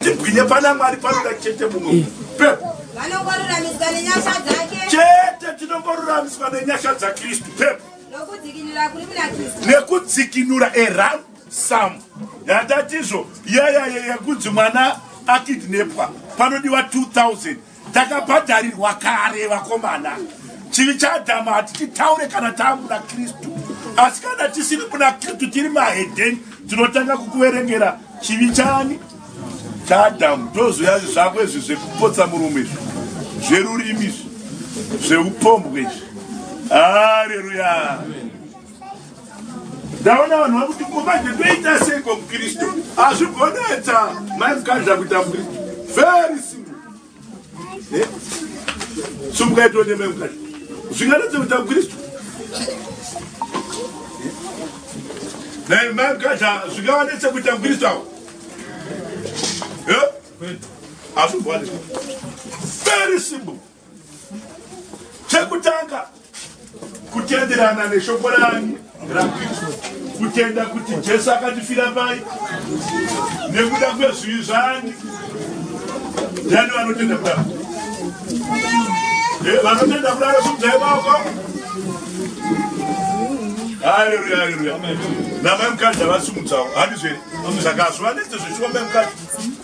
tibwinye pana mwari panoda chete mumwe eh. pepo vanongoruramiswa nenyasha dzake chete tinongoruramiswa nenyasha dzakristu pepo nokudzikinura kuri muna kristu nekudzikinura eram sam yatatizvo yayaya yekunzi mwana akidnepwa panodiwa 2000 takabhadharirwa kare vakomana chivi chaadhamu hatichitaure kana taamuna kristu asi kana tisiri kuna kristu tiri mahedheni tinotanga kukuverengera chivi chani chaadhamu tozoya zvako izvi zvekupotsa murume izvi zverurimi izvi zveupombwe izvi haleluya ndaona vanhu vari kuti kumanje toita sei kwa mukristu hazvigonetsa mai mukadza kuita mukristu very simple eh? sumukaitone mai mukadza zvinganetsa kuita mukristu nai eh? mai mukadza zvingavanetsa kuita mukristu avo eh? hazvigonetsa very simple Chekutanga kutenderana neshoko rani raKristu, kutenda kuti Jesu akatifira pai nekuda kwezvivi zvani. Ndiani vanotenda kudaro? Eh, vanotenda kudaro sumdzai maoko. Haleluya, haleluya. Namai mukadzi havasumudzawo, handizvere? Saka hazvivanetse zvechivambai mukadzi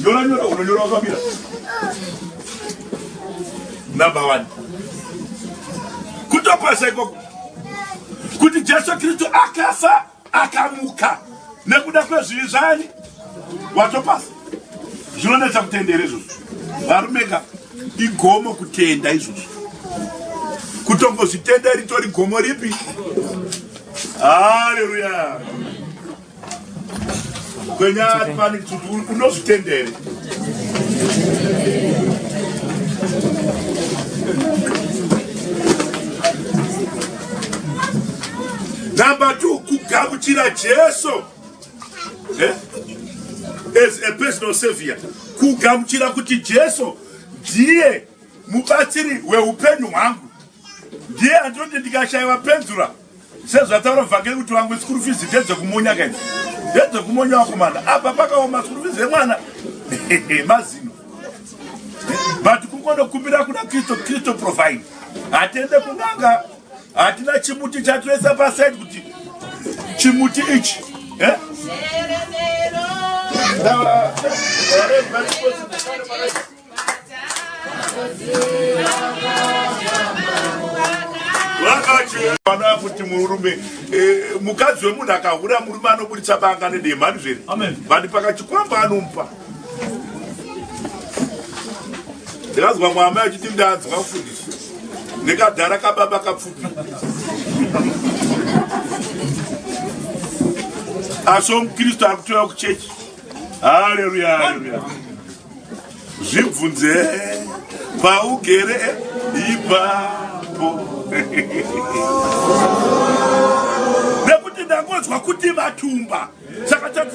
Nyora nyora unonyora wakamira. Number 1. Kutopasa ikoko. Kuti Jesu Kristu akafa akamuka nekuda kwezvivi zvani watopasa zvinonetsa kutendera izvozvo varume ka igomo kutenda izvozvo kutongozvitenda ritori gomo ripi haleluya kwenyaya pani kuti unozvitendere number two kugamuchira jesu eh? as a personal savior kugamuchira kuti jesu ndiye mubatsiri weupenyu hwangu ndiye andinoti ndikashaiwa penzura sezvataura vhangeri kuti vamwe school fees ndedzekumunya kaidzi ndedzekumunya wakomana apa pakaoma school fees yemwana mazino but kungonokumbira kuna kristu kristu provide hatende kunanga hatina chimuti chatoisa pasaidi kuti chimuti ichi eh? Now, uh, vanoda kuti murume eh, mukadzi wemunhu akahura murume anoburitsa banga nedemhani zviri bandi pakachikwamba anomupa ndikazwa mwamai achiti ndanzwa mfundisi nekadhara kababa kapfupi asi omukristu ari kutoya kuchechi haleluya haleluya zvibvunze paugere ipapo nekuti ndangonzwa kuti vatumba saka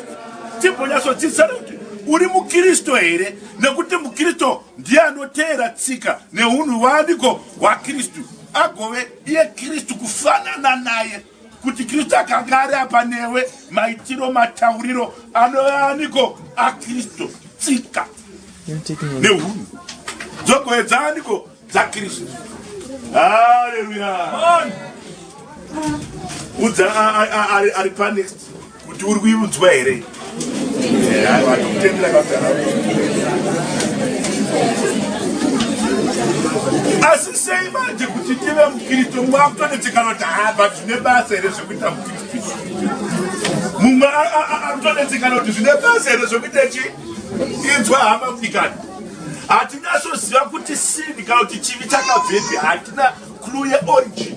timbonyatsodzidzisana kuti uri mukristu here nekuti mukristu ndiye anoteera tsika neunhu waaniko hwakristu agove iye kristu kufanana naye kuti kristu akanga ari apa newe maitiro matauriro anoaniko akristu tsika neunhu dzogoedzaaniko dzakristu haleluya udza ari panext kuti uri kuiudzwa here asi sei manje kuti tive mukristu mwakutonetsekanoti ha but zvine basa here zvekuita mukristu mumwe akutonetsekana kuti zvine basa here zvekuita chi inzwa hama kudikani hatinasoziva kuti sini kana kuti chivi chakabvepi hatina clue yeorigin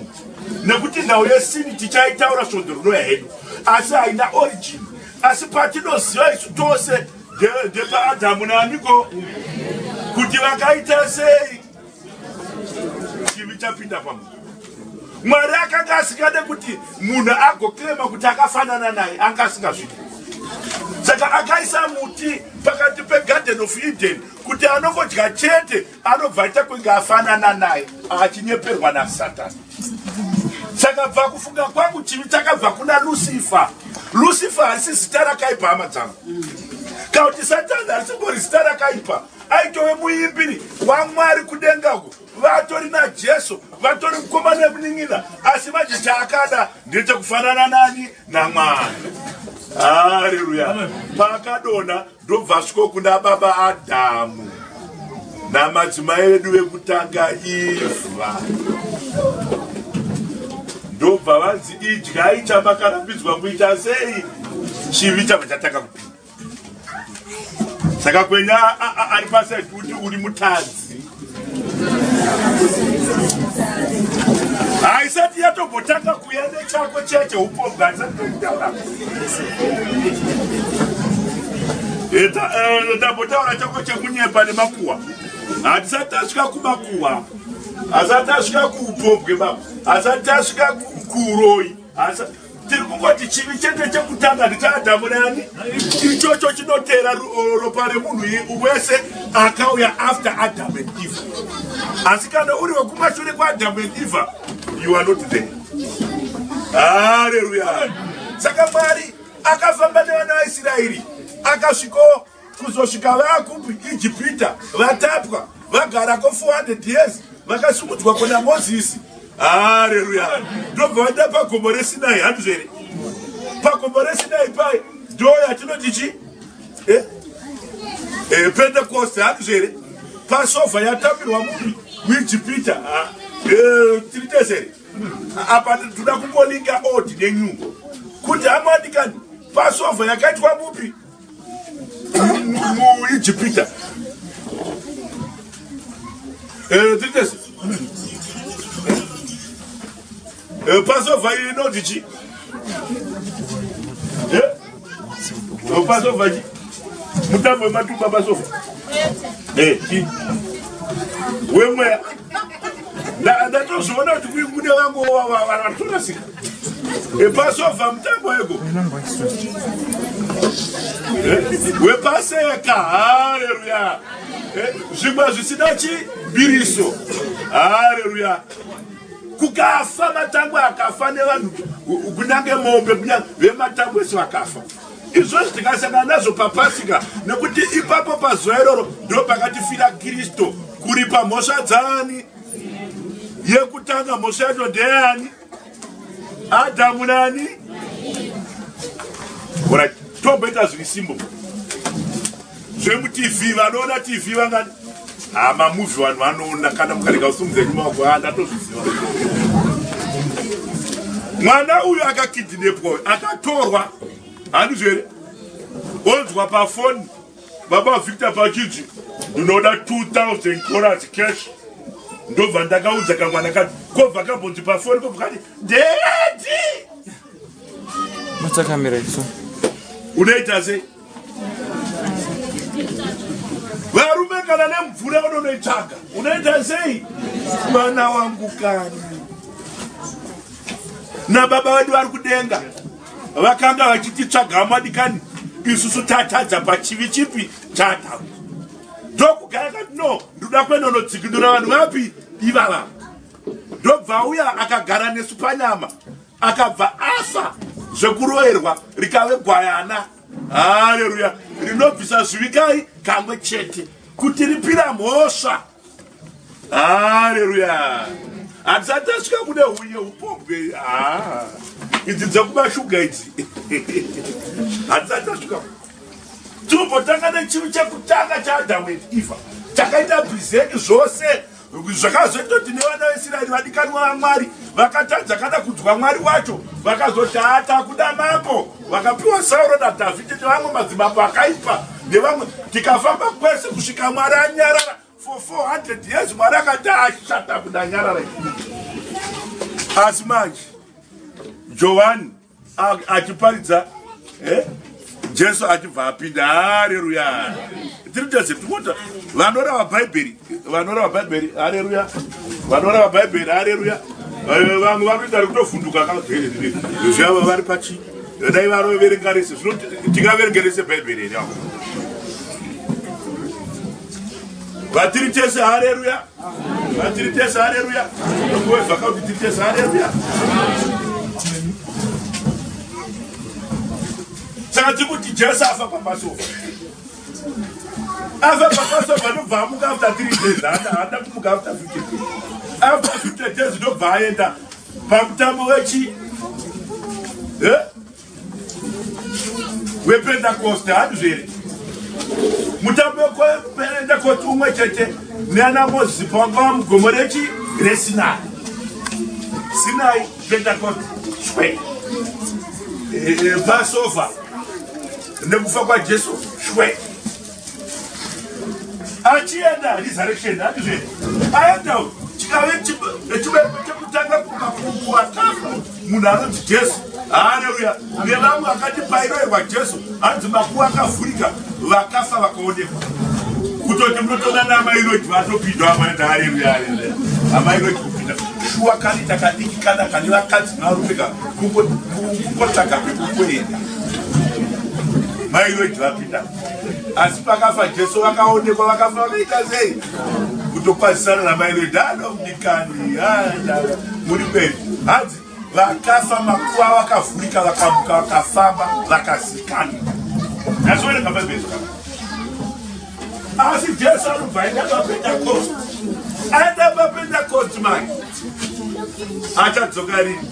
nekuti nhau yesini tichaitaura svondo rinouya hedu asi haina origin asi patinoziva isu tose ndepaadhamu naamiko kuti vakaita sei chivi chapinda pamunhu mwari akanga asingade kuti munhu agokirema kuti akafanana naye anga asingazvidi saka akaisa muti pakati pegarden of eden kuti anongodya chete anobva aita kunge afanana naye achinyeperwa nasatani saka bva kufunga kwangu chivi chakabva kuna lusifa lusifa harisi zita rakaipa hama dzangu kana kuti satani harisingori zita rakaipa aitove muimbiri wamwari kudenga uko vatori najesu vatori mukoma nemunin'ina asi manje chaakada ndechekufanana nani namwari haleluya paakadona Ndobva asviko kuna baba Adhamu namadzimai vedu vekutanga Ivha ndobva vanzi idyai chamakarambidzwa kuita sei chivi chabva chatanga kupinda saka kwenya ari pasai kuti uri mutadzi haisati yatombotanga kuya nechako chiya cheupombwa haisati toitaura ndambotaura eh, eh, chako chekunyepa nemakuwa hatisati tasvika kumakuwa asati asvika kuupombwe baba asati asvika kuuroi tiri kungoti chivi chete chekutanga ndichaadhamu nani ichocho chinotera ropa remunhu wese akauya after adam and eve asi kana uri wekumashure kwaadhamu and eve you are not there haleluya saka mwari akafamba nevana vaisraeri akasviko kuzosvika vakupi ijipita vatapwa vagara ko 400 years vakasumudzwa kuna mozisi hareruya ndobva vaenda pagomo resinai handizvo here pagomo resinai pai ndo yatinoti chi eh? eh, pentekoste handizvo here pasova yatambirwa mupi muijipita ah, eh, tiri tese here apa toda kungolinga old nenew kuti amwadikani pasova yakaitwa mupi muijipita eh, titesi eh, pasova inoti chi eh, pasova chi mutambo wematumba pasova wemweya ndatozviona kuti kuyi mune vangu vatorasika epasova mutambo weko eh, wepaseka haleluya eh, zvimwe zvisina chibiriso haleluya kukafa matangwe akafa nevanhu kunyange mombe kunyange vematangwe so akafa izvozvi tikasangana nazvo papasika nekuti ipapo pazuva iroro ndo pakatifira kristu kuripa mhosva dzaani yekutanga mhosva yacho ndeyani adhamu nani ora tomboita zviri simbo zvemutv vanoona tv vangani ha mamuvi vanhu vanoona kana mukarega usumudza edu maoko a ndatozviziva mwana uyu akakidinepwa uyu akatorwa handizvo here onzwa pafoni baba victor pachinzi ndinoda 2000 dollars cash ndobva ndakaudza kamwana kati kobva kabhonzi pafoni kobva kati ndeyati matsakamira isu unoita sei Varume kana nemvura unonoitsvaga unoita sei? Mwana wangu kani na baba vedu vari kudenga vakanga vachititsvaga madikani isusu tatadza pachivi chipi chata ndokugara kati no ndoda kuendonodzikinura vanhu vapi ivava ndobva uya akagara nesu panyama akabva afa zvekuroerwa rikave gwayana haleluya rinobvisa zvivikai kamwe chete kuti ripira mhosva haleluya hatisati tasvika kune hunye upombwe ah, idzi dzekumashuga idzi hatisati tasvika timbotanga nechinhu chekutanga chaadhamu and eva takaita brizeki zvose zvakazoita kuti nevana veisraeri vadikanwa vamwari vakatadza kana kudzwa mwari wacho vakazoti ata kuda mambo vakapiwa sauro nadhavhidhi nevamwe madzimambo akaipa nevamwe tikafamba kwese kusvika mwari anyarara for 400 years mwari akati ashata kuda nyarara asi manje johani achiparidza eh? jesu achibva apinda hareruya tiri tese timota vanorava bhaibheri vanorava bhaibheri hareruya vanorava bhaibheri hareruya eh, vamwe vanoita rekutovhunduka kazviyava vari pachi dai varoverenga rese zvino tingaverenge rese bhaibheri here avo vatiri tese hareruya Tiri tese haleluya. Ngowe zvakauti tiri tese haleluya. Saka tiri kuti Jesu afa paPassover. Afa paPassover anobva amuka after three days. Haada kumuka after fifty days. After fifty days ndobva aenda pamutambo wechi. Eh? wepentekosti handizvere mutambo wepentekosti umwe chete neana mozisi pavanga va mugomo rechi resinai sinai pentekosti shwe eh, eh, pasova nekufa kwajesu shwe achienda resurrection andizve aenda chikave chibereko chekutanga kukakuwa kafu munhu anonzi jesu haleluya nevamwe akati pairoerwa jesu anzi makuwa akavhurika vakafa vakaonekwa kutoti munotoona namairoti vatopindwa amaenda haleluya haleluya amairoti kupinda shuwa kani takadiki kana kani vakadzi nevarume ka kungotsvaga pekukuenda mairoti vapinda asi pakafa jesu vakaonekwa vakafa vakaita sei kutokwazisana namai vedano mdikani muri kweni hanzi vakafa makuva vakavhurika vakamuka vakafamba vakazikana nazooneka bhaibheri asi jesu anobva aenda papendakosti aenda papendakosti manje achadzoka rini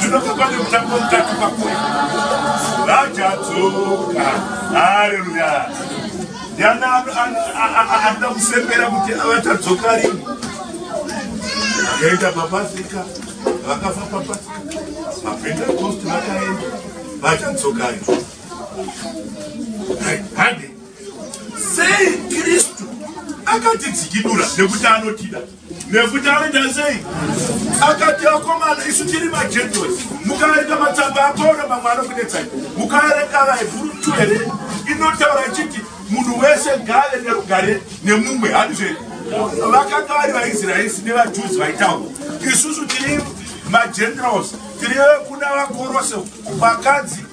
Zvinoka pane mutambo mutatu pakuri vachadzoka hareruya ndiana anoda kusembera kuti vachadzoka rini akaenda papasika vakafa papasika mapentekosti vakaenda vachadzoka rini hande sei kristu akatidzikidura nekuti anotida nekuti anoita sei akati akomana isu tiri majentos mukaerenga matsamba apauro mamwe anokunetsai mukaerenga vaebhuru two here inotaura ichiti munhu wese ngave nerugare nemumwe handizve vakanga vari vaisraelis nevajuzi vaitaura isusu tiri majentos tiri vekuna vakorose vakadzi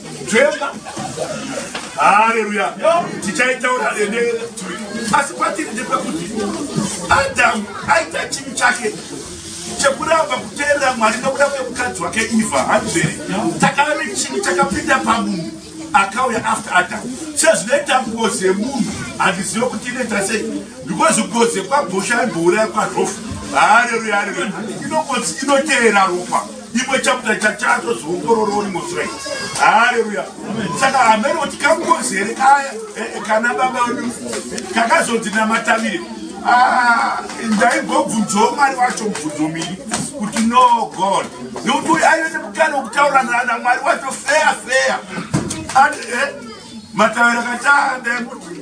Jemba. Haleluya. Tichaitaura ende asi kwatiri ndepekuti Adamu aita chinhu chake chekuramba kuteerera Mwari nokuda kwemukadzi wake Eva hanzvere takave chinhu chakapinda pamunhu akauya after Adam sezvinoita ngozi yemunhu handizive kuti inoita sei because ngozi yekwabhosha imbouraya kwarofu haleluya haleluya inongozi inoteera ropa imwe chapter chachatozoongorora uri musrei haleluya saka hameno kuti kangozi here kaya eh, eh, kana baba wedu kakazonzi namatavire ah, ndaigobvunzawo mwari wacho mubvunzo miri kuti no god nokuti uyo aive nemukana wokutaura nana mwari wacho feya feya eh, matavira kataandaemuti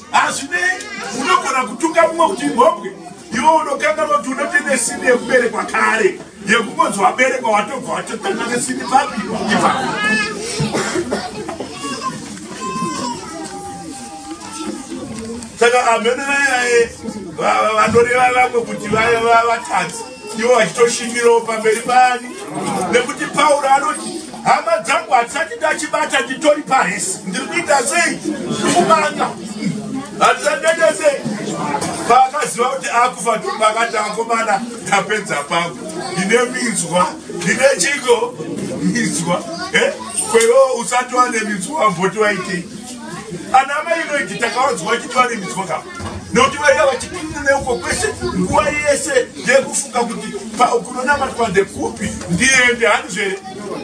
hazvinei unogona kutuka mumwe kuti mhombwe iwe unokanganwa kuti unotine sini yekuberekwa kare yekungonzi waberekwa watobva watotanga nesini papi ipapo saka amhene vayae vanoreva vamwe kuti vaya vatadzi iwo achitoshimbirawo pamberi paani nekuti pauro anoti hama dzangu hatisati ndachibata nditori parisi ndiri kuita sei ndikumanga hatisati ndaita sei paakaziva kuti akufa ndipakati akomana ndapedza pangu ndine minzwa ndine chiko minzwa eh? kwewo usati wane minzwa voti waitei ana mai veki takavanzwa vachiti varimidzwa ka nokuti vaiva vachipinda neuko kwese nguva yese yekufunga kuti kunonamatwa ndekupi ndiende hani zvere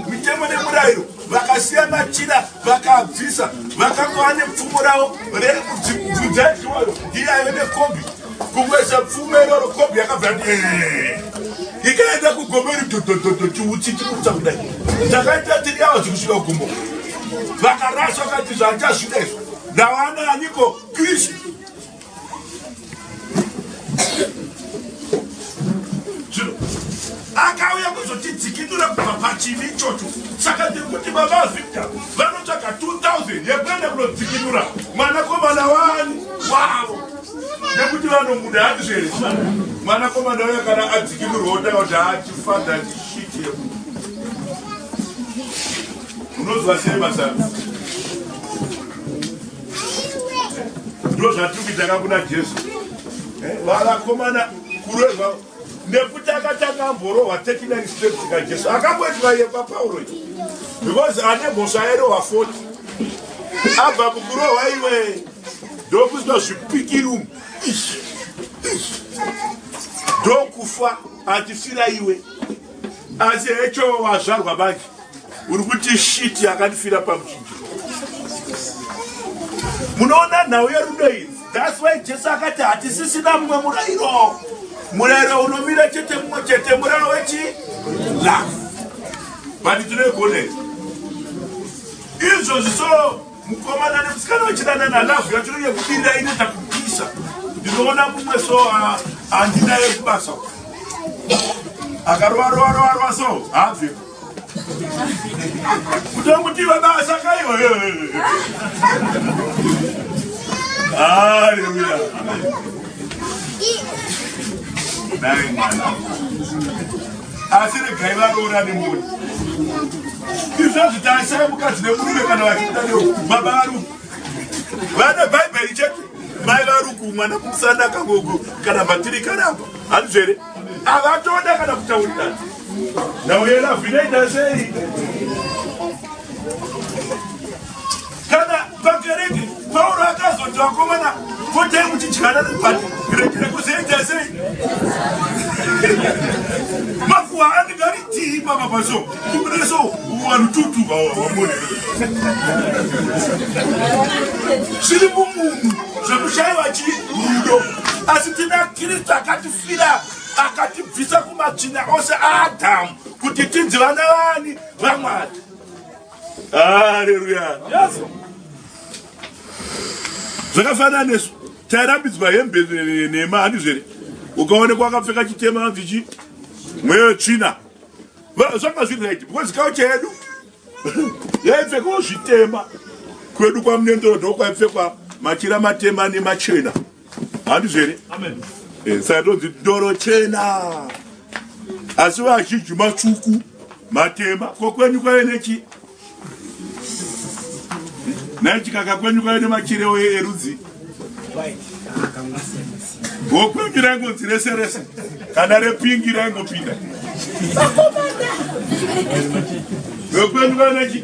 mitemo nemurayiro vakasiya machira vakabvisa vakanga vane pfumo ravo rekubvunza iwayo iyayo nekombi kukwesha pfume iroro kobhi yakabva yati eh. ikaenda kugombo iri dhodhodhodho chiutsi chikuta kudai takaita tiri yavo zvekusvika kugombo vakaraswa kati zvachasvika izvo ndawana aniko kristu akauya kuzotidzikinura kubva pachivi ichocho saka ndiri kuti baba victor vanotsvaga 2000 yekuenda kunodzikinura mwanakomana wani wavo nekuti vanomuda hanzvere mwana komana uya kana adzikirurwa otaura kuti achifadha chishiti yeku unozwa sei masana ndo zvatiri kuita kakuna jesu eh, vanakomana kureva nekuti akatanga amborohwa 39 steps kajesu akamboitwa iye papaulo because ane mhosva yairehwa 40 abva mukurohwa iwee ndokuitwa zvipikiri umu ndokufa atifira iwe asi hecho wazvarwa manje uri kuti shiti yakandifira pamuchinjiro munoona nhau yerudo idzi thats why jesu akati hatisisina mumwe murayiro murayiro unomira chete mumwe chete murayiro wechi love but tinoigonera izvozvi so Mukomana nemusikana vachidanana love yacho inenge kudira inoita kupisa. Ndinoona mumwe so ah, handina yekubasa. Akarova rova rova rova so habve. Kutomuti vabasa kaiwa. Hallelujah. Amen. Dai mwana. asi regai varoorane moni izvozvi taisaya mukadzi nemurume kana vachibuda neo baba varuku vane bhaibheri chete mai varuku mwana kumusana akangogo kana bhatiri karamba handizvere avatoda kana kutaurirana nauyelavinaitasei kana pakereke pauro akazoti vakomana potai muchidyana but kurekera kuzoita sei makuwa anenge ari tii papa paso kumireso warututu vamone zviri mumunhu zvekushaiwa chii rudo asi tina kristu akatifira akatibvisa kumatsvina ose aadhamu kuti tinzi vana vani vamwari haleluya zvakafanana nesu tairambidzwa hembe nhema handizvo here ukaonekwa akapfeka chitema anzi chi mweyo tsvina zvanga zviri right because kaucha yedu yaipfekawo zvitema kwedu kwamunendoro ndokwaipfekwa machira matema nemachena handizvo here eh, saka ndonzi ndoro chena asi vazhinji matsvuku matema ko kwenyu kwave nechi nai chikaka kwenyu kwave nemachirewo erudzi ko kwenyu raingonzi rese rese kana repingi raingopinda ko kwenyu kwave nechi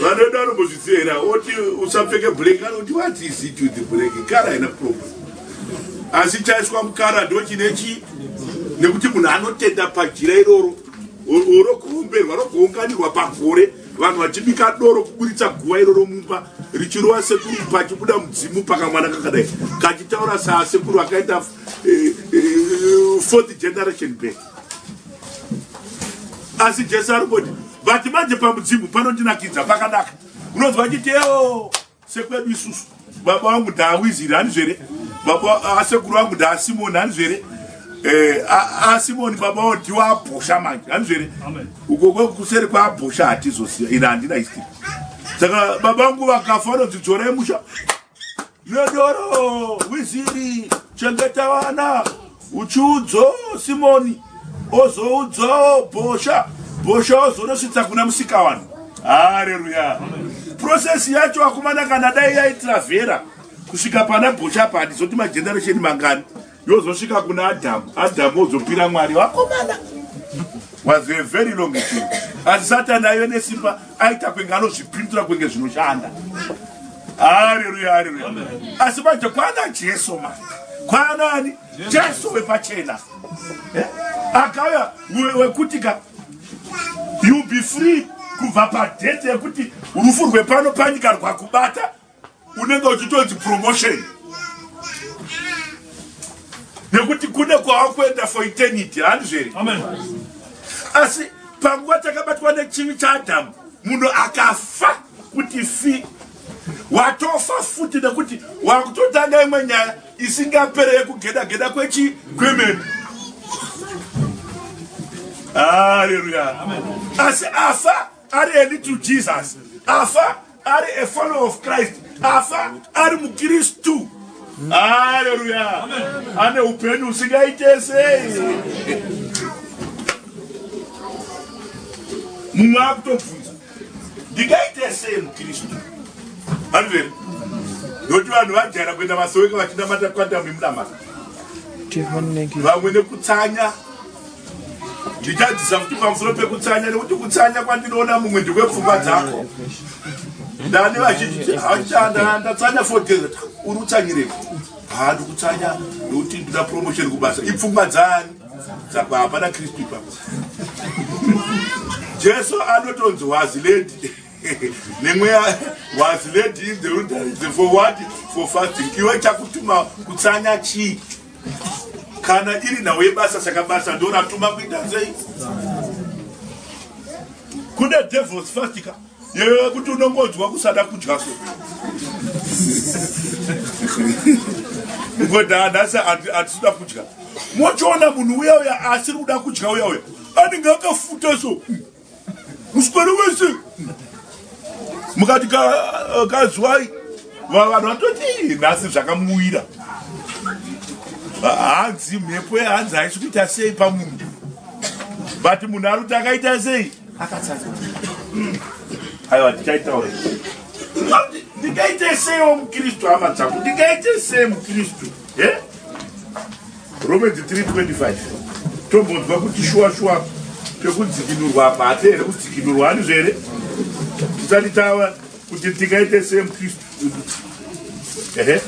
vanoda anombozviziva here oti usapfeke black anoti what is it with black kara haina problem asi chaiswa mukara ndo chine chii nekuti munhu anotenda pajira iroro orokuumberwa rokuunganirwa pagore vanhu vachibika doro kuburitsa guva iroro mumba richirova sekuru pachibuda mudzimu pakamwana kakadai kachitaura saasekuru akaita eh, eh, fourth generation back asi jesu ari kuti vati manje pamudzimu panondinakidza pakanaka unonzwa achiti eo sekwedu isusu baba vangu ndaawiziri hanizvo here baba asekuru vangu ndaasimoni hanizvo here eh, asimoni baba vao ndiwo abhosha manje hanizvo here ukoko kuseri kwaabhosha hatizosiya ina handina history saka baba vangu vakafa vanonzi dzorai musha Yodoro, wiziri, chengeta vana, uchiudzo Simoni, ozoudzo bhosha, bhosha ozonosvitsa kuna musika vanhu. Haleluya. Process yacho akomana kana dai yaitravera kusvika pana bhosha padi zoti mageneration mangani. yozosvika kuna adhamu adhamu ozopira mwari vakomana was a very long thing asi satani aive nesimba aita kwenge anozvipindura kwenge zvinoshanda hareruya hareruya asi manje kwana jesu ma kwanani jesu wepachena eh? akauya wekuti ka you be free kubva padete yekuti rufu rwepano panyika rwakubata unenge uchitonzi promotion nekuti kune kwawakuenda for eternity handizvo here asi panguva takabatwa nechivi chaadhamu munhu akafa kuti fi watofa futi nekuti wakutotanga imwe nyaya isingapere yekugeda geda kwechi kwemene haleluya asi afa ari a little jesus afa ari a follower of christ afa ari mukristu haleluya ane upenyu usingaite sei mumwe akutobvunza ndingaite sei mukristu andiveri nokuti vanhu vajara kuenda masoweka vachinamata kwandamimnamata vamwe nekutsanya ndichadzisa kuti pamusoro pekutsanya nekuti kutsanya kwandinoona mumwe ndekwepfungwa dzako ndani vazhinji hachanda ndatsanya for desert uri utsanyireko haa ndikutsanya nekuti ndina promotion kubasa ipfungwa dzani saka hapana kristu ipapo jesu anotonzi waziledi nemweya waziledi in the wilderness for what for fasting iwe chakutuma kutsanya chii kana iri nhau yebasa saka basa ndo ratuma kuita sei kune devils fastika yeye kuti unongonzwa kusada kudya so ngoda nhasi hatisida kudya mochiona munhu uya uya asiri kuda kudya uya uya anenge akafuta so Musikana wese mukati kazwai vanhu vatoti nhasi zvakamuwira hanzi mhepo yehanzi haisi kuita sei pamunhu but munhu ari kuti akaita sei akatsanza aiwa tichaitaura ndingaite seiwo mukristu hama dzangu ndingaite sei mukristu e Romans 3:25 tombonzwa kuti shuwa shuwa pekudzikinurwa apa hate here kudzikinurwa hanizvo here tisati tava kuti tingaite same kristu ehe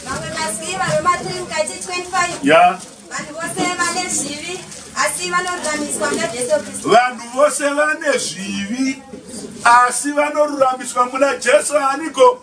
vamwe masivi vave matiri mukati 25 ya vanhu vose vane zvivi asi vanoruramiswa muna jesu kristu vanhu vose vane zvivi asi vanoruramiswa muna jesu aniko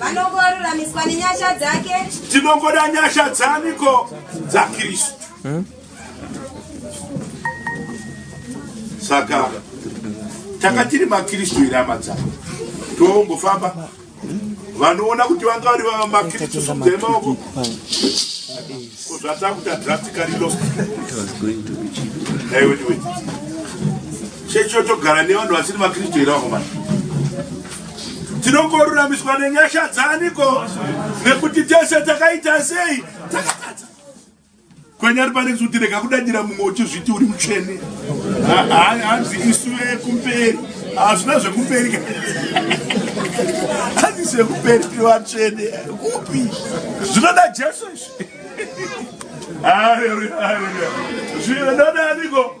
vanongoruramiswa nenyasha dzake tinongoda nyasha dzaniko dzakristu hmm? saka takatiri makristu here hama dzavo tongofamba vanoona kuti vanga vari vamakristu dzemaoko kozvatakuta drastically lost Chechi yotogara nevanhu vasiri vaKristu here vakomana? Tinongoruramiswa nenyasha dzaniko? Nekuti tese takaita sei? Takatadza. Kwenyari pane kuti rega kudadira mumwe uchizviti uri mutsvene. Hanzi isu vekumberi. Hazvina zvekumberi. Hanzi zvekumberi tiri vatsvene. Kupi? Zvinoda Jesu izvi. Hallelujah. Hallelujah. Zvinoda aniko?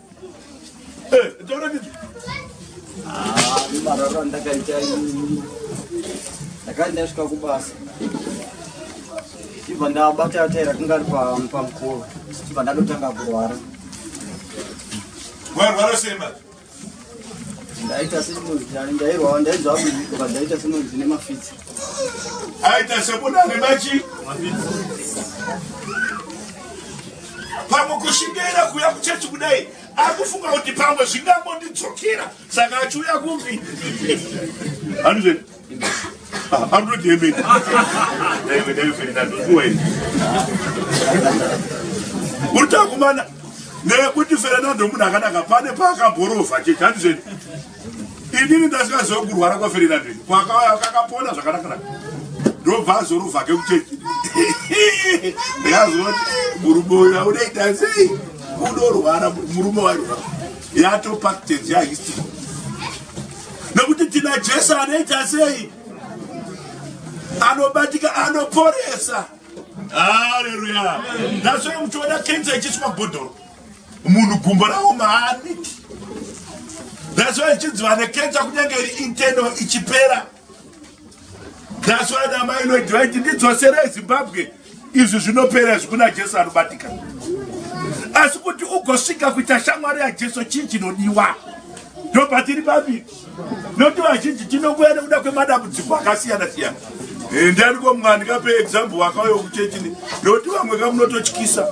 marara ndakaita ndakati ndasvika kubasa chibva ndabata taira kunga ari pamukova chibva ndatotanga kurwara warwara sei ma ndaita semunhu ndairwaa ndaizvaa ndaita semunhu zvine mafitsi aita sekuda nemachi pamwe kushingaira kuya kuchechi kudai akufunga kuti pamwe zvingangondidzokera saka achiuya kumbi anizve anoti yemene uri takumana nekuti ferenando munhu akanaka pane paakaborova chechi anizveni inini ndasvika zvekurwara kwaferera ndini kwakauya kakapona zvakanakana ndobva azorovha ke kuchechi ndikazoti murume uyu aunoita sei unorwara murume wairwara yatopactenzi yahistory nekuti tina jesu anoita sei anobatika anoporesa haleluya ndasvika muchiona kenza ichiswa bhodhoro munhu gumbo ravo maani that's why ichinzi vane kensa kunyange iri inteno ichipera that's why namai noiti vaiti ndidzosera ezimbabwe izvi zvinopera izvi kuna jesu anobatika asi kuti ugosvika kuita shamwari yajesu chii chinodiwa ndobva tiri pambiri nokuti vazhinji tinokuya nekuda kwemadambudziko akasiyana siyana eh, ndani komwana ndikape example wakauya kuchechini nokuti vamwe kamunototyisa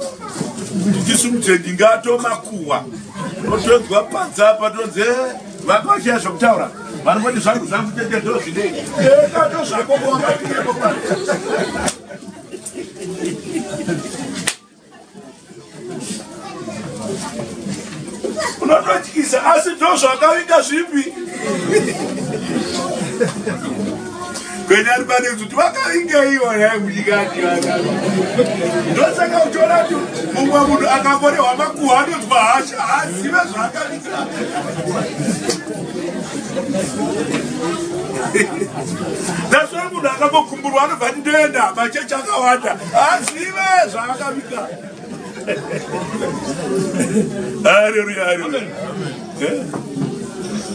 tisu mutendi ngatomakuwa otonzwa panza apa tonzi eh, vakashiya zvokutaura vanoti zvangu zvangu tete ndozvinei eh, kato zvako koaaieko pa unototyisa asi ndo zvakavinga zvipi kwenyari pane kuti vakavingeiwo yaimudikati ndosaka uchiona kuti mumwe munhu akakorehwa makuhwa anonzwa hasha haazive zvaakavinga that's why munhu akambokumburwa anobva ndindoenda machechi akawanda azive zvaakavika haleluya haleluya eh?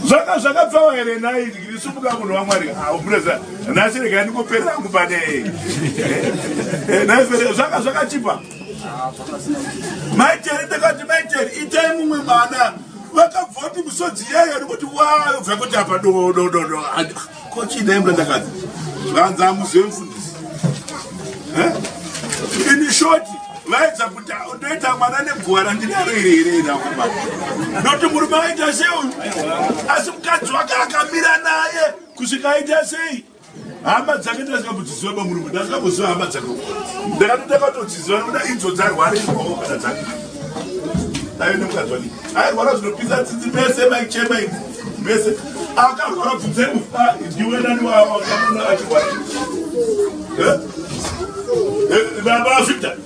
zvanga zvakapfawa here nhai ndisumuka munhu wamwari aumureza ah, nhasi regai ndingoperera angu pane eh, eh, nhai fere zvanga zvakachipa maitere ndakati maitere itai mumwe mwana vakabvoti misodzi yayo ndikuti wayobva kuti apa dodododo Ko chii dai mudandakadzi zvanzi amuzive mufundisi eh? ini shoti vaedza kuti ndoita mwana neguva randinaro iri here inakuma noti murume aita sei uyu asi mukadzi wake akamira naye kusvika aita sei hama dzake ndazikakudziziva bamurume ndazikakuziva hama dzake ndakatotakakutodziziva nokuda idzo dzarwara ioo kana dzake aive nemukadzi wake airwara zvinopisa tsitsi pese maichema ivo Mese akarwara bvunzai mufari ndiwe nani waakaona achirwara baba Victor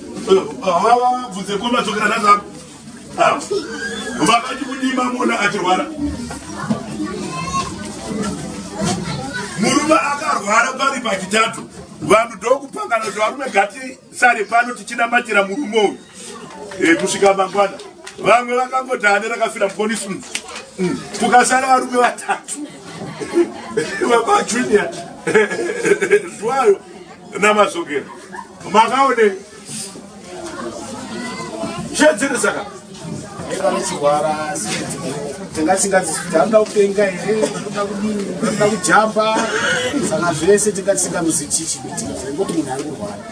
hawa bvunze ko madzokera nazako vakati kudii mamona achirwara murume akarwara pari pachitatu vanhu ndokupangana kuti varume gati sare pano tichinamatira murume uyu e, kusvika mangwana vamwe vakangodane rakafira muponisi mu mm. kukasara varume vatatu baba junior zwayo namazogera makaone shedzere saka vachirwara tingasingazianoda kupenga here anoda kudini anoda kujamba saka zvese tingatisingamuzichichiitingotinhu ari kurwara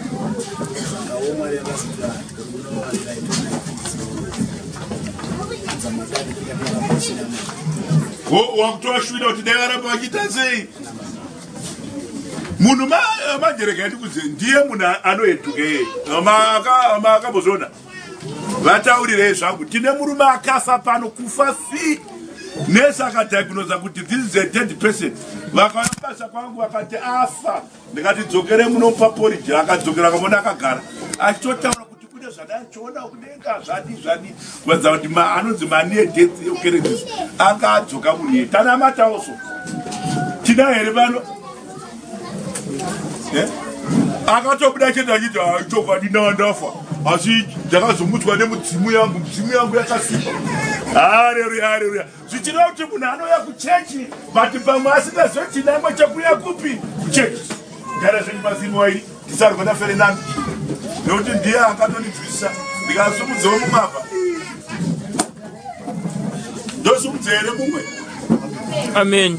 wakutoashwira kuti dai varamba vachiita sei munhu manjereka yandikudze ndiye munhu anoeduka iye maakambozviona vataurirei zvangu tine murume akafa pano kufa fi nesi akadiagnosa kuti this is a dead person vakavabasa kwangu vakati afa ndikati dzokere muno pa porridge akadzokera akamona akagara achitotaura kuti kune zvadachiona kudenga zvadi zvadi kuratidza kuti anonzi manie death yokeredis anga adzoka munie tanamatawo so tida here pano eh? akatobuda chete achiti chokwadi ndanga ndafa asi ndakazomutswa nemudzimu yangu mudzimu yangu yakasimba hareruya hareruya zvichireva kuti munhu anouya kuchechi but pamwe asingazve chinangwa chekuya kupi kuchechi gara zvenyu mazini wairi tisarwa naferenani nekuti ndiye akatonibvisa ndikasumudzewo mumwe apa ndosumudzere mumwe amen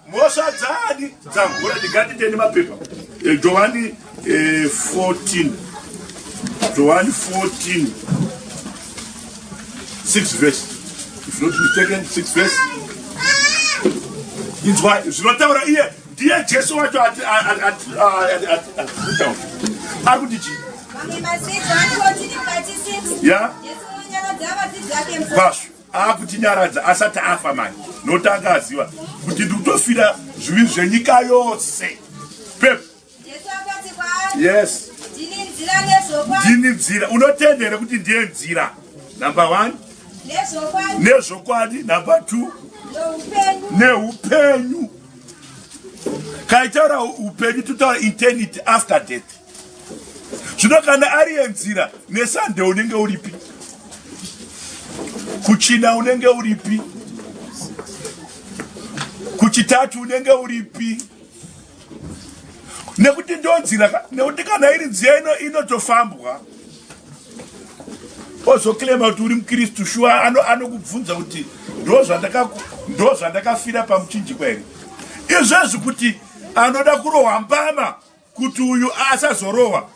Mhosva dzaani dzahura ndingatiteni mapepa eh, Johani 14 eh, Johani 14 6 verse if not mistaken 6 verse inzwai zvinotaura iye ndiye jesu wacho ari kuti chii ya vashu akutinyaradza asati afa mani nokuti akaziva kuti ndikutofira zvivi zvenyika yose pep yes ndini nzira unotenda here kuti ndiye nzira number one nezvokwadi number two neupenyu kaitaura upenyu totaura internity after death zvino kana ari yenzira nesande unenge uripi kuchina unenge uripi kuchitatu unenge uripi nekuti ndonzira nekuti kana iri nziya ino inotofambwa ozoclaima kuti uri mukristu shuwa anokubvunza ano kuti ndozvandakafira pamuchinjikwa here izvezvi kuti anoda kurohwa mbama kuti uyu asazorohwa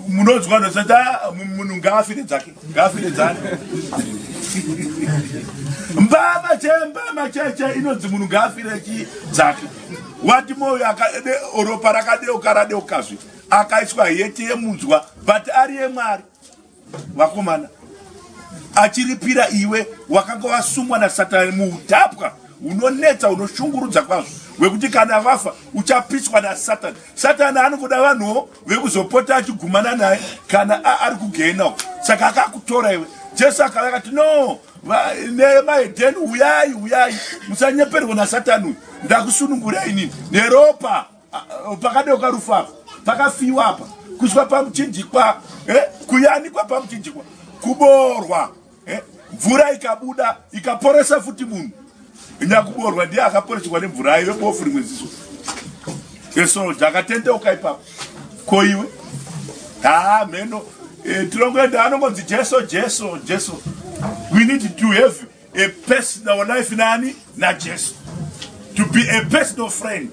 munonzwa ndosata munhu ngaafire dzake ngaafire dzake mbama che mbama cheche inonzi munhu ngaafire chi dzake wati moyo akade ropa rakadeuka radeukazve akaiswa hete yemunzwa but ari yemwari vakomana achiripira iwe wakanga wasungwa nasatani muutapwa unonetsa unoshungurudza kwazvo wekuti kana vafa uchapiswa nasatani satani anongoda vanhuwo vekuzopota achigumana naye kana ari kugehena uko saka akakutora iwe jesu akava akati no nemaedheni uyai uyai musanyeperwa nasatani uyu ndakusunungurai inini neropa pakadoka rufu apa pakafiwa apa kuswa pamuchinjikwa eh, kuyanikwa pamuchinjikwa kuboorwa eh, mvura ikabuda ikaporesa futi munhu nyakuboorwa ndiye akaporeswa nemvura ayo bofu rimwe ziso esoja akatendeuka ipapo ko iwe haa mheno eh, tinongoenda anongonzi jesu jesu jesu we need to have a personal life nani najesu to be a personal friend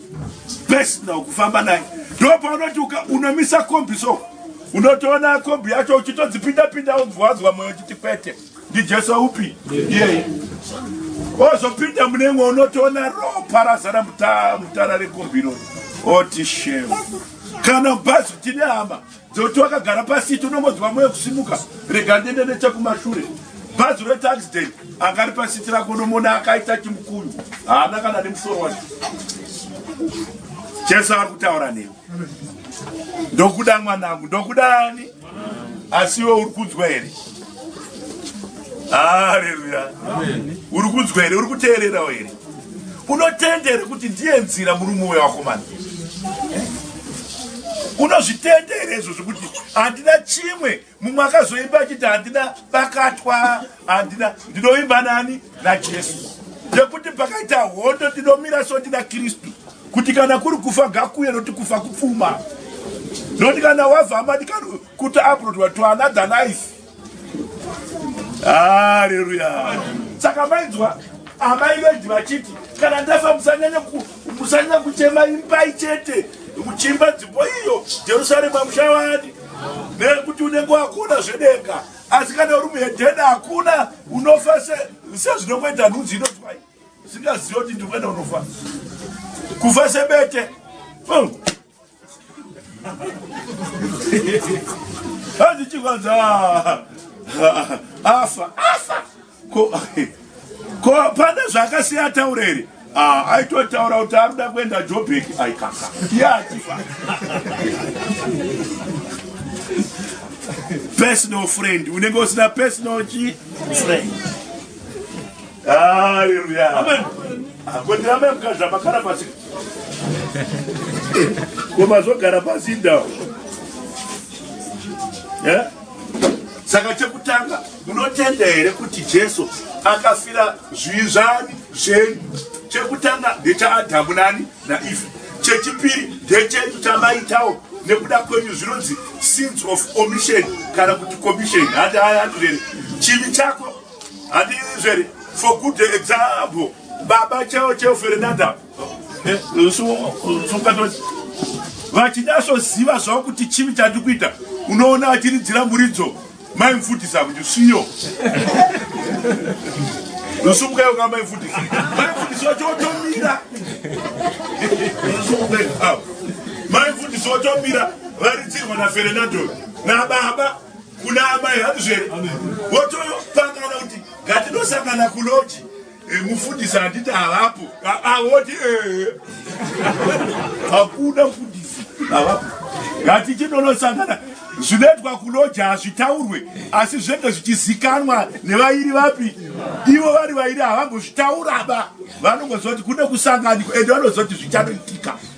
best now kufamba naye ndopaunoti unomisa kombi so unotoona kombi yacho uchitodzipinda pinda wobvwadzwa moyo chiti kwete ndijesu upi iyeye wozopinda mune imwe unotoona ropa razara mutara rekombi iroro oti shema kana bhazi kuti nehama dzoti wakagara pasiti unongonzwa moyo kusimuka rega ndende nechekumashure bhazi retaxden anga ri pasiti rako unomona akaita chimukunyu haana kana nemusoro wacho jesu ari kutaura newe ndokuda mwanangu ndokuda ani asi iwe uri kunzwa here aleluya uri kunzwa here uri kuteererawo here unotenda here kuti ndiye nzira murume uyo wakomana eh? unozvitenda here izvo zvekuti handina chimwe mumwe akazoimba achiti handina bakatwa handina ndinoimba nani najesu ndekuti pakaita hondo ndinomira so ndina kristu kuti kana kuri kufa gakuye noti kufa kupfuma noti kana wavhamadikano kuti abrodwa to another life haleluya saka mainzwa amai vendi vachiti kana ndafa musanyanya kuchema imbai chete muchimba dzipo iyo jerusaremu amuchavani nekuti unenge wakona zvedenga asi kana uri muhedhena hakuna unofa sezvinongoita nhunzi inotwai singazivi kuti ndikuenda unofa kufa sebete handichikwanza afa afa ko pane zvakasiya taura here ah, aitotaura kuti ari kuda kuenda jobek aikaka iye achifa personal friend unenge usina personal chi friend Haleluya. Amen. Akondiramba mukadzi amakara pasi. Koma zvogara pasi ndawo. Eh? Saka chekutanga munotenda here kuti Jesu akafira zvizvani zvenyu? Chekutanga ndechaAdhamu nani naIvhi. Chechipiri ndechenyu chamaitawo nekuda kwenyu zvinonzi sins of omission kana kuti commission. Hati haya hati rere. Chivi chako handizveri for good example baba cheo cheo fernanda eh, vachinyasoziva zvavo kuti chivi chandikuita unoona achiridzira muridzo maimfutisa kuti siyo usumukai unga maimfutisa maimfutisa wacho watomira maimfutisa watomira varidzirwa nafernando nababa kuna amai handizvere votopangana kuti ngatidosangana kuloji eh, mufundisi handiti havapo voti eh. hakuna mfundisi havapo ngatichinonosangana zvinoitwa kuloji hazvitaurwe asi zvinenge zvichizikanwa nevairi vapi ivo vari vairi havambozvitauraba vanongozoti kune kusanganikwa ende vanozoti zvichanoitika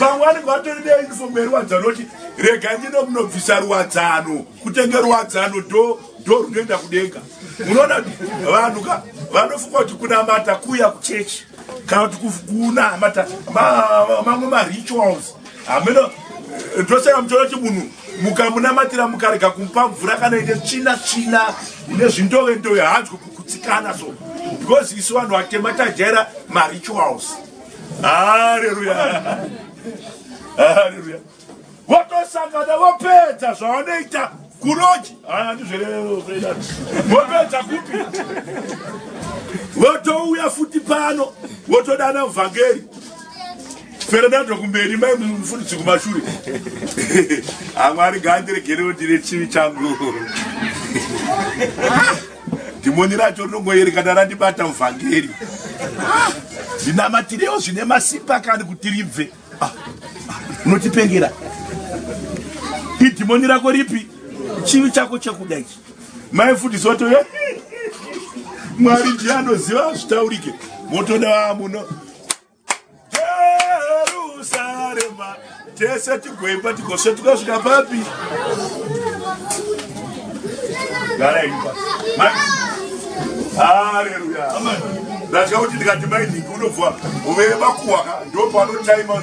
vamwe vanenge vatori neiniso meruwadzano kuti rega ndino munobvisa ruwadzano kutenge ruwadzano do do runoenda kudenga munoona kuti vanhu ka vanofunga kuti kunamata kuya kuchechi kana kuti kunamata mamwe marituals hameno ndosaka muchona kuti munhu mukamunamatira mukarega kumupa mvura kana ine tsvina tsvina ine zvindove ndove hanzwe kukutsikana so because isu vanhu vatema tajaira marituals haleluya haleluya votosangana vopedza zvavanoita kuroji vopedza kupi votouya futi pano votodana vhangeri fernando kumberi mai mufundisi kumashure amwari gandiregerewo ndine chivi changu Dhimoni racho rinongoyerekana randibata uvhangeri. Ah, ndinamatirewo zvine masimba kani kuti ribve. Ah, unotipengera. Idhimoni rako ripi? Chivi chako chekuda ichi. Mai futi soto ye. Mwari ndiye anoziva zvitaurike. Motoda muno. Jerusarema tese tigoimba tigosvetuka svika papi garaimba haleluya ndatya kuti ndikati mainhingi unobva uvere makuhwaka ndopanotaima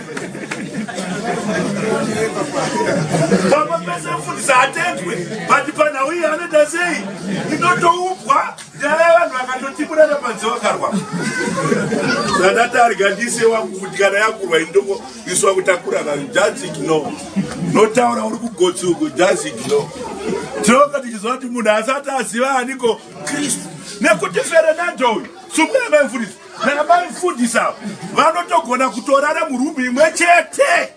pamba pese mfundisi hatendwe but panhau iyi anoita sei inotoubwa nyaya yavanhu vakatotiburana panze vakarwa zandati arigadise wangu kuti kana yakurwa indoko isu vakutakura vanhu just igno notaura uri kugotsi uku just igno tinonga tichiziva kuti munhu asati aziva aniko kristu nekuti ferenando uyu sumbuya maimfundisi Kana mai mfundisi avo vanotogona kutorara murumu imwe chete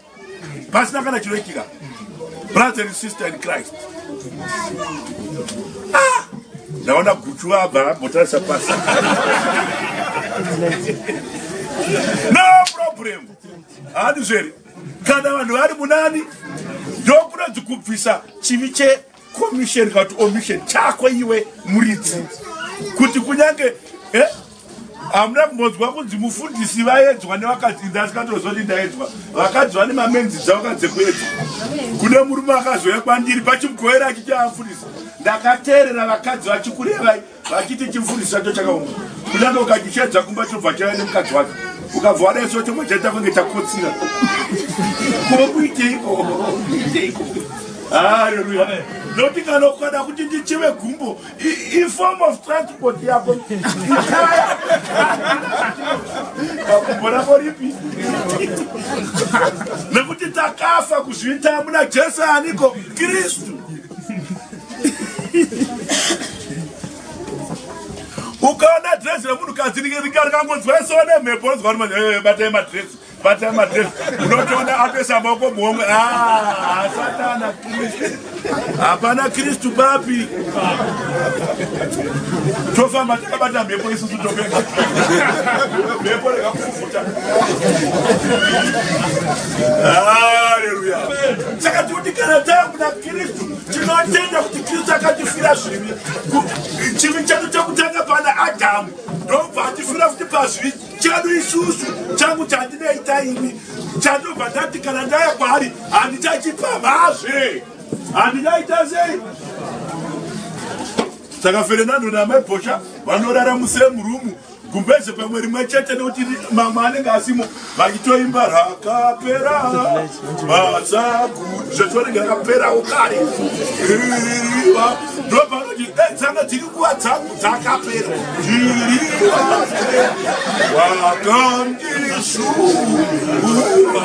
pasina kana chinoitika. Brother and sister in Christ. Ah! Ndaona guchu abva ambotarisa pasi. No problem. Hadi zveri. Kana vanhu vari munani ndokunonzi kubvisa chivi che commission kana kuti omission chako iwe muridzi kuti kunyange eh? hamuna kumbonzwa kunzi mufundisi vaedzwa nevakadzi inda asikatoziva kuti ndaedzwa vakadzi vane mamenzi dzavakadze kuedzwa kune murume akazouya kwandiri pachimugoera achiti amfundisi ndakateerera vakadzi vachikurevai vachiti chimfundisi chacho chakaoma kunyange ukachichedza kumba chobva chaya nemukadzi wacho ukabva wadaiso chobva chaita kunge chakotsira ko kuiteiko kuiteiko haleluya noti kana ukada kuti ndichive gumbo iform of transport yako gumbo rako ripi nekuti takafa kuzviita muna jesu aniko kristu ukaona dress remunhu kadzi rikangonzwa so nemhepo onzwa kuti eh, batai madress batai madress unotoona atoisa maoko muhomwe ah, satana kristu hapana kristu papi tofamba takabata mhepo isusu topenga mhepo rekakufufuta aleluya saka tikuti kana takuda Kristu tinotenda kuti Kristu akatifira zvivi chivi chedu chekutanga pana Adamu ndobva atifira kuti pazvivi chedu isusu changu chandinoita ini chandobva ndati kana ndaya kwaari handichachipamhazve handingaita sei saka ferenando namai bhosha vanorara musemurumu gumbeze pamwe rimwe chete nekuti mamwe anenge asimo vachitoimba rakapera matsagu zvese vanenge rakaperawo kare iriva ndopanoti dai eh, dzanga dziri nguva dzangu dzakapera iriva wakandishuva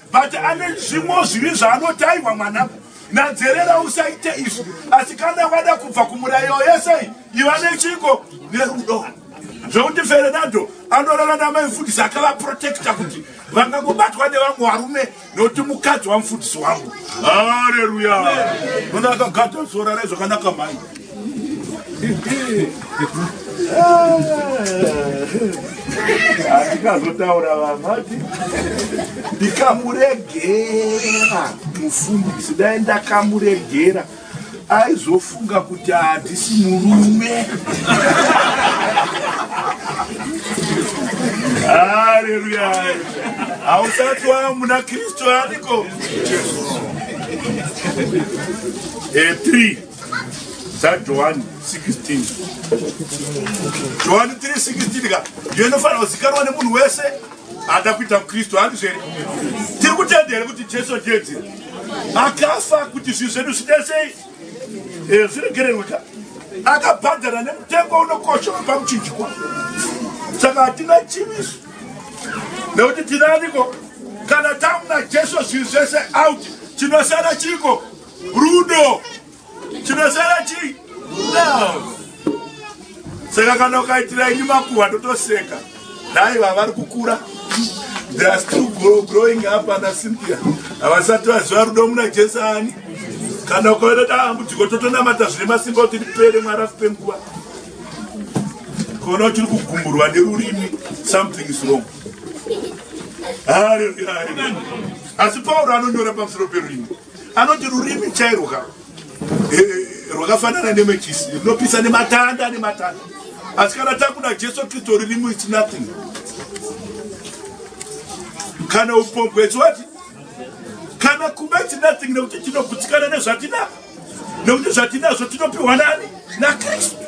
but ane zvimwe zvivi zvaanotaihwa mwana nadherera usaite izvi asi kana wada kubva kumurairo yesei iva nechiko nerudo zvekuti ferenando anorara namaifundisi akavaprotekta kuti vangangobatwa nevamwe varume nokuti mukadzi wamufundisi wangu hareruya nona akagada sora raizvakanaka mai andikazotaura vamati ndikamuregera mufundisi dai ndakamuregera aizofunga kuti handisi murume haleluya hausati wava muna kristu ariko 3 dzajohani 16 johani 316 ka ndiyo inofanira kuzikanwa nemunhu wese ada kuita mukristu handizveri tiri kutenda here kuti jesu ndiedzi akafa kuti zvinhu zvedu zvidesei eh, zviregererwe ka akabhadhara nemutengo unokosha wepamuchinjikwa saka hatina chiviso nekuti tinaniko kana tamuna jesu zvinhu zvese out chinosara chiko rudo chinosara chii love saka kana ukaitira ini makuhwa totoseka dai vavari kukura they are still grow, growing up ana cynthia havasati vaziva rudo muna jesu ani kana ukaona dambudziko totonamata zvine masimba kuti ripere mwari akupe nguva kuona uchiri kugumburwa nerurimi something is wrong haleluya asi pauro anonyora pamusoro perurimi anoti rurimi chairwo ka eh, eh, rwakafanana nemechisi rinopisa nematanda nematanda asi kana takuda jesu kristu rurimi its nothing kana upombwe chiwati kana kuba its nothing nekuti tinogutsikana nezvatinaa nekuti zvatinazvo tinopiwa nani nakristu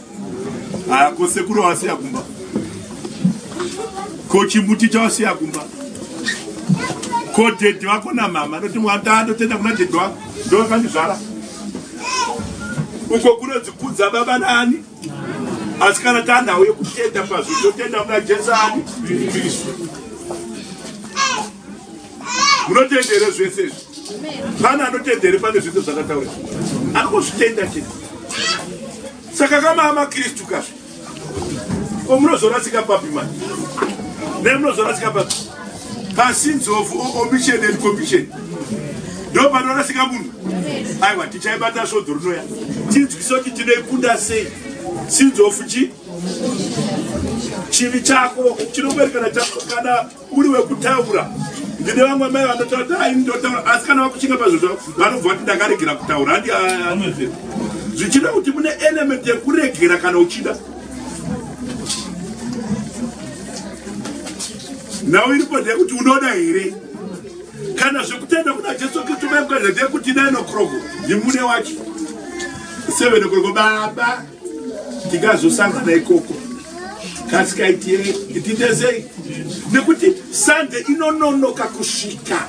Aya ko sekuru wasiya kumba. Ko chimuti chawasiya kumba. Ko dedi wako na mama ndoti mwata ndotenda kuna dedi wako ndo kandizvara. Uko kuno dzikudza baba nani? Asi kana tanda uye kutenda pazvo totenda kuna Jesu ani? Kristu. munotenda here zvese izvi pane anotenda here pane zvese zvakataura anongozvitenda chete saka kamaa makristu kazvi ko munozorasika papi mani ne munozorasika papi pasins of omission and commission ndo panorasika munhu aiwa tichaibata svodzo rinoya tinzwisa kuti tinoikunda sei sins of chi chivi chako chinoberekana chako kana uri wekutaura ndine vamwe mai vanotaura dai ndotaura asi kana vakushinga pazvo zvavo vanobva vati ndakaregera kutaura handi anofe zvichida kuti mune element yekuregera kana uchida nhau iripo ndeyekuti unoda here kana zvekutenda kuna jesu kristu maikuenda ndeyekuti nine o'clock ndimune wacho seven o'clock baba ndingazosangana ikoko kasikaitie nditezei nekuti sande inononoka kusvika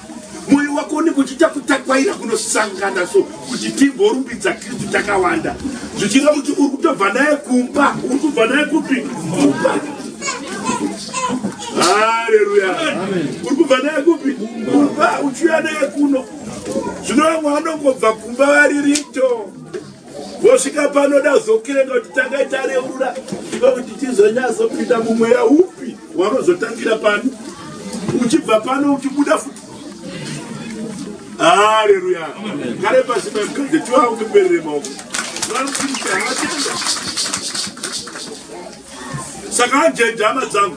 mwoyo wako unenge uchiita kutakwaira kunosangana so kuti timborumbidza kristu takawanda zvichireva kuti uri kutobva naye kumba uri kubva naye kupi kumba haleluya uri kubva naye kupi kumba uchiuya naye kuno zvino vamwe vanongobva kumba vari rito vosvika panoda kuzokirenga kuti tangai tareurura iva kuti tizonyazopinda mumweya upi wanozotangira pano uchibva pano uchibuda futi haleluya kare pasi pamukadzi tiwaungeperere maoko saka anjeja hama dzangu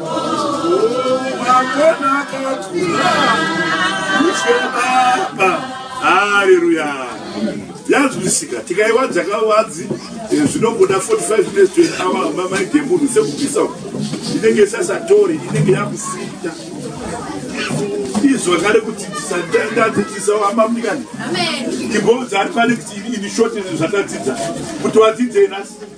Hallelujah. yazwisika tikaiwadza kawadzi eh, zvinongoda 45 minutes to an hour amba mai demunhu sekubvisa inenge isasatori inenge yakusinda izvo ngare kudzidzisa ndadzidzisa wamba mdikani ndimboudza ari pane kuti ini shoti zvatadzidzisa kuti wadzidzei nasi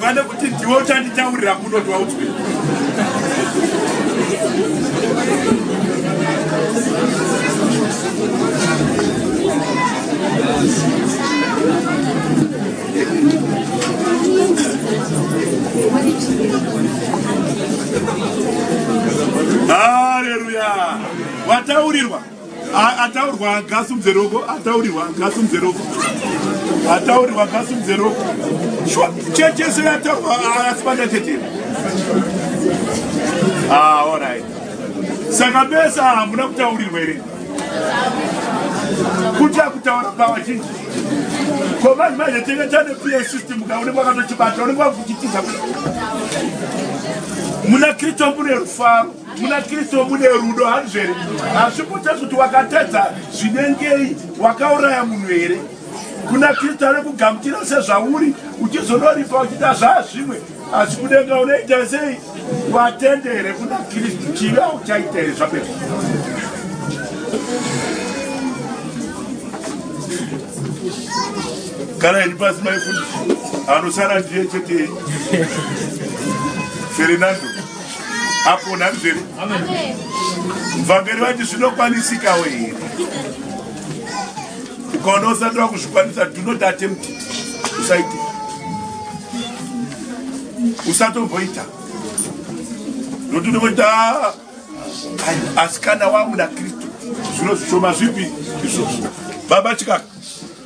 pane kuti ndiwe uchanditaurira kuno kuti waudzwe Hallelujah. Wataurirwa. ataurwa agasimudze roko ataurirwa agasimudze roko ataurirwa agasimudze roko shuwa checheso yataurwa asi pandatetera aorit ah, saka besa hamuna kutaurirwa here kuti akutaura pavazhinji ko vanhu vazhetenge tane pa system ka unenge wakatochibata unenge wakuchitiza muna kristu mune rufaro muna kristu mune rudo hanzvo here hazvi kutadzi kuti wakatadza zvinengei wakauraya munhu here kuna kristu ari kugamutira sezvauri uchizonoripa uchita zvaazvimwe asi kudenga unoita sei watende here kuna kristu chivi auchaita here zvapera kana ini pasi maifundisi anosara ndiye chete fernando apona ndizvere mvangeri vati zvinokwanisikawo here ukaona usati vakuzvikwanisa do not attempt usaite usatomboita nokuti unovoita ah, asikana wamuna kristu zvino zvishoma zvipi izvozvo baba chikaka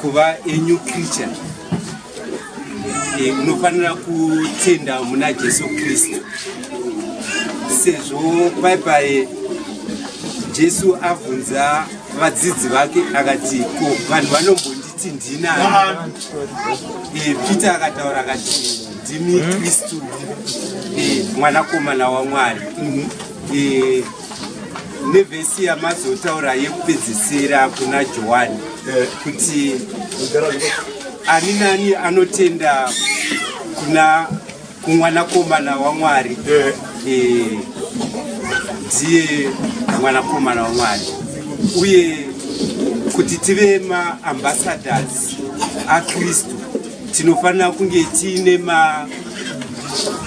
kuva a new creature eh, unofanira kutenda muna jesu kristu sezvo paipai jesu abvunza vadzidzi vake akati ko vanhu vanombonditi ndinani eh, peter akataura akati ndimi kristu eh, mwanakomana wamwari mhm. nevhesi yamazotaura yekupedzisira kuna johani eh. kuti ani nani anotenda kuna kumwanakomana wamwari eh. Eh, ndiye mwanakomana wamwari uye kuti tive maambasadors akristu tinofanira kunge tiine ma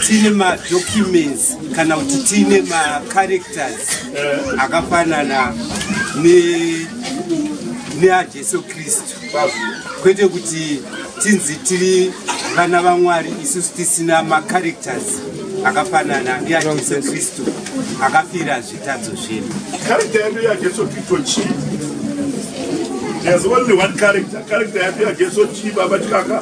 tine madocuments kana kuti tine macharacters akafanana neajesu kristu kwete kuti tinzi tiri vana vamwari isusu tisina macharacters akafanana neajesu kristu akafira zvitadzo zvedu character yedu yajesu kristu chii There's only one character. Character ya Jesu chi baba chikaka.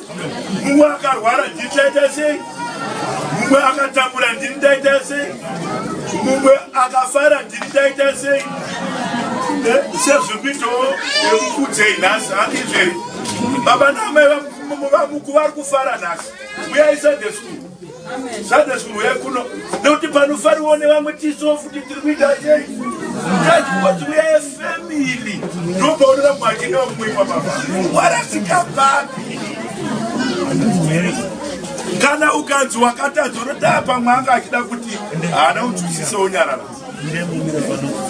mumwe akarwara ndini ndaita sei mumwe akatambura ndini ndaita sei mumwe akafara ndini ndaita sei eh, sezvikuitawo yekukudzei nhasi andizveri baba naamai vamuku vari kufara nhasi uyaisande school Sadasi munhu uya kuno nekuti panofariwo nevamwe tiso futi tiri kuita sei tazikuti uyaye family ndopaonera mwachina vamumweimwa baba warasika papi kana ukanzi wakatadza unotaa pamwe anga achida kuti haana unzwisise unyarara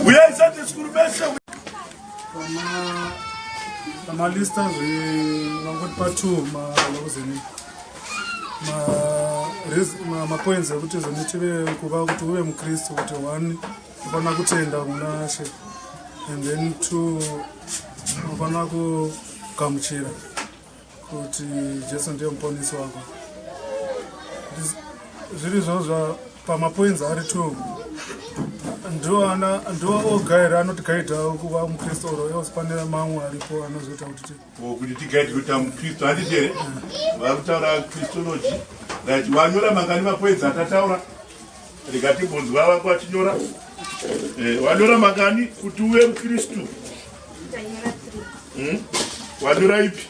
uyai sadasi kuri vese pamalista zve vangoti patwo malokuzenika mapoints ma, ma ekuti zvoni tive kuva kuti uve mukristu kuti one ufanira kutenda kuna she and then two unofanira kugamuchira kuti jesu ndiye muponisi wako zviri zvozva pamapoinzi ari two ndiwo oga here anotigaidha kuva mukristu oro ewosipanira mamwe aripo anozoita kuti Ko kuti tigaiti kuti amukristu handiti here vari kutaura kristology right wanyora mangani mapoinzi atataura rega timbonzwa vako vachinyora eh, wanyora mangani kuti uve mukristu hmm? wanyora ipi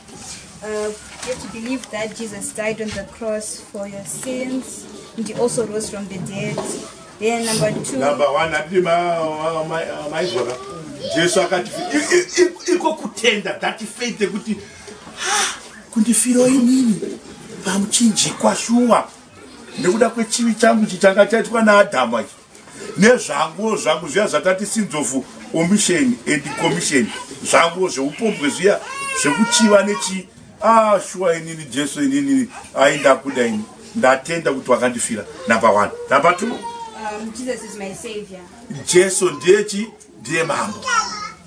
uh, you have to believe that Jesus died on the cross for your sins and he also rose from the dead. Yeah, number two. Number one, hatidi maizvona. Jesu akati iko kutenda that faith yekuti kundifiro inini pamuchinjikwa shuwa nekuda kwechivi changu chichanga chaitwa naadhamu achi nezvanguwo zvangu zviya zvatati sins of omission and commission zvanguwo zveupombwe zviya zvekuchiva nechii Ah shuwa inini Jesu inini ai ndakuda ini ndatenda kuti wakandifira number 1 number 2 um, Jesus is my savior Jesu ndiye chi ndiye mambo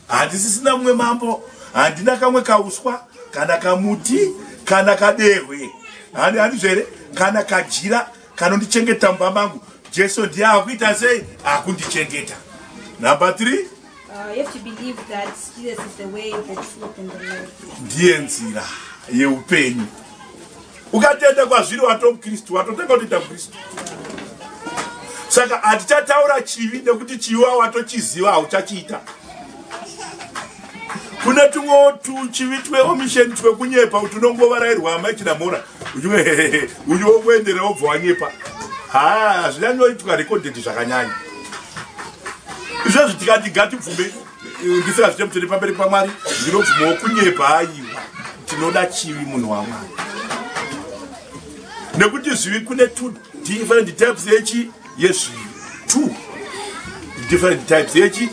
handisisina mumwe mambo handina kamwe kauswa kana kamuti kana kadehwe handi handi zvere kana kajira kanondichengeta mumba mangu Jesu ndiye akuita sei akundichengeta number 3 ndiye nzira yeupenyu ukatenda kwazviri watova mukristu watotanga kutoita mukristu saka hatichataura chivi nekuti chivi wa watochiziva hauchachiita kune tumwewo tuchivi tweomisheni twekunyepa kuti unongovarairwa amai chinamora uyu wokuendera wobva wanyepa ha hazvinyanyoitwa rekodheti zvakanyanya izvezvi tikati gatibvume eh, ndisingazvite mutende pamberi pamwari ndinobvuma wokunyepa aiwa tinoda chivi munhu wamwari nekuti zvivi kune two different types yechi yezvivi two different types yechi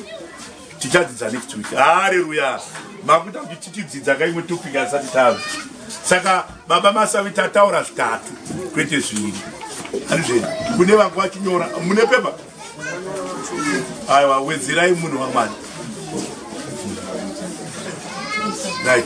tichadzidza next week haleluya makuita kuti titidzidza ka imwe topic asati tave saka baba masavi tataura zvitatu kwete zviri andizvei kune vangu vachinyora mune pepa aiwa wedzerai munhu wamwari right